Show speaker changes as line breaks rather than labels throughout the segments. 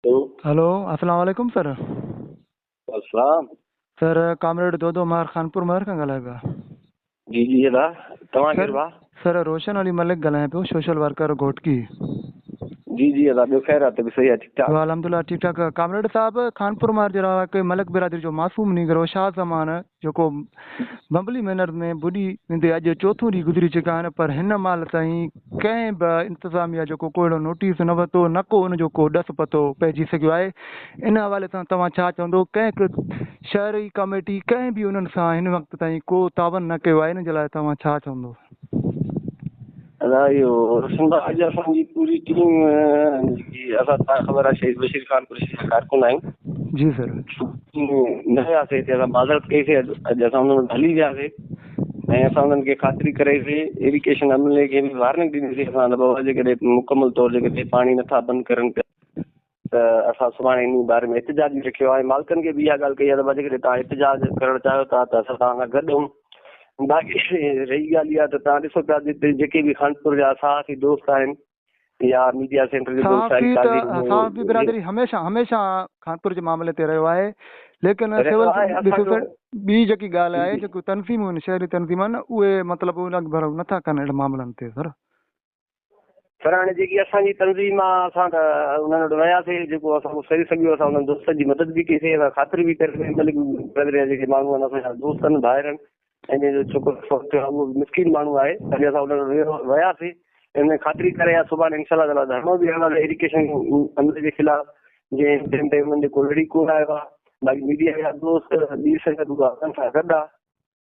هلو hello
اسلام عليڪم sir
اسلام سر
ڪامريڊ دودو مهر خانپور مهر کان ڳالهايو پيا جي جي ادا
توهان ڪير با سر روشن علي
ملڪ ڳالهايان پيو سوشل ورڪر گهوٽڪي
جي جي ادا ٻيو خير ته به صحيح ٺيڪ ٺاڪ الحمدلله ٺيڪ ٺاڪ
ڪامريڊ صاحب خانپور مهر جي رهاڪي ملڪ برادري جو معصوم نينگر هو شاهه زمان جيڪو بمبلي مينر ۾ ٻڏي ويندي اڄ چوٿون ڏينهن گذري چڪا آهن پر هن مهل تائين ڪنهن به انتظاميا جو ڪو اهڙو نوٽيس نه ورتو نه ڪو ان جو ڪو ڏس پتو پئجي سگهيو آهي ان حوالي سان توهان ڇا چوندو ڪنهن شهري ڪميٽي ڪنهن به انهن سان هن وقت تائين ڪو تعاون نه ڪيو آهي ان جي لاء توهان ڇا چوندو
ادا اهو سمراج اسان جي پوري ٽيم جي اسان سان خبر آ شهيد بشير خان پوري جي ڪارڪن آهن جي سر
نه
ويا سي ته اسان بازار ڪئي سي اڄ اسان انهن وٽ هلي ويا سي ۽ اسان انهن کي خاطري ڪرائي سي ايريڪيشن عملي کي به وارننگ ڏني سي اسان بابا جي ڪڏهن مڪمل طور جي ڪڏهن پاڻي نٿا بند ڪرن پيا ته اسان سڀاڻي انهي باري ۾ احتجاج به رکيو آهي مالڪن کي به اها ڳالهه ڪئي آهي ته جيڪڏهن توهان احتجاج ڪرڻ چاهيو ٿا ته اسان توهان سان گڏ آهيون باقي رهي ڳالهه اها ته توهان ڏسو پيا جتي جيڪي به خانپور جا صحافي دوست آهن يا ميڊيا سينٽر جو دوست آهي صحافي
برادري هميشه هميشه خانپور جي معاملي تي رهيو آهي ليڪن سول ٻي جيڪي ڳالهه آهي جيڪو تنظيمون آهن شهري تنظيمون آهن اهي مطلب ان ڀرو نٿا ڪن اهڙن معاملن تي سر
پر هاڻي جيڪي اسان جي تنظيم آ اسان ته انهن وٽ وياسي جيڪو اسان کان سري سگهيو اسان انهن دوستن جي مدد به ڪئي سي اسان خاطر به ڪري سي ملڪ قدريا جيڪي ماڻهو آهن اسان جا دوست آهن ڀائر آهن ۽ جنهن جو ڇوڪرو فوت ٿيو آهي اهو به مسڪين ماڻهو آهي تڏهن اسان انهن وٽ وياسي ان خاطري ڪري آيا سڀان انشاء الله تعاليٰ ڌرڻو به هڻنداسي ايڊيوڪيشن عملي جي خلاف جنهن ٽيم تي انهن جو ڪو لڙي ڪونه آيو آهي باقي ميڊيا جا دوست ٻي سنگت هو اسان سان گڏ آهي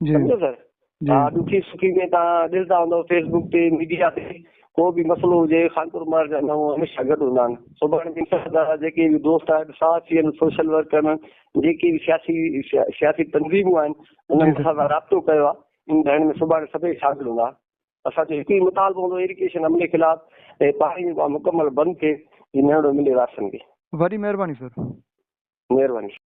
سمجهيو سر ها ڏکي سکي ۾ تان ڏسدا هوندو فيس بوڪ تي ميڊيا تي ڪو به مسئلو هجي خانپور مار جا نو هميشه گڏ هوندا آهن سڀاڻي جن سان دا جيڪي به دوست آهن صحافين سوشل ورڪر جيڪي به سياسي سياسي تنظيمون آهن انهن کي سان رابطو ڪيو آهي ان ڌرڻي ۾ سڀاڻي سڀئي شامل هوندا اسان جو هڪ ئي مطالبو هوندو ايريگيشن عملي خلاف ۽ پاڻي جو ڪم مڪمل بند ٿئي
جي
نهڙو ملي وارثن کي
وڏي
مهرباني سر مهرباني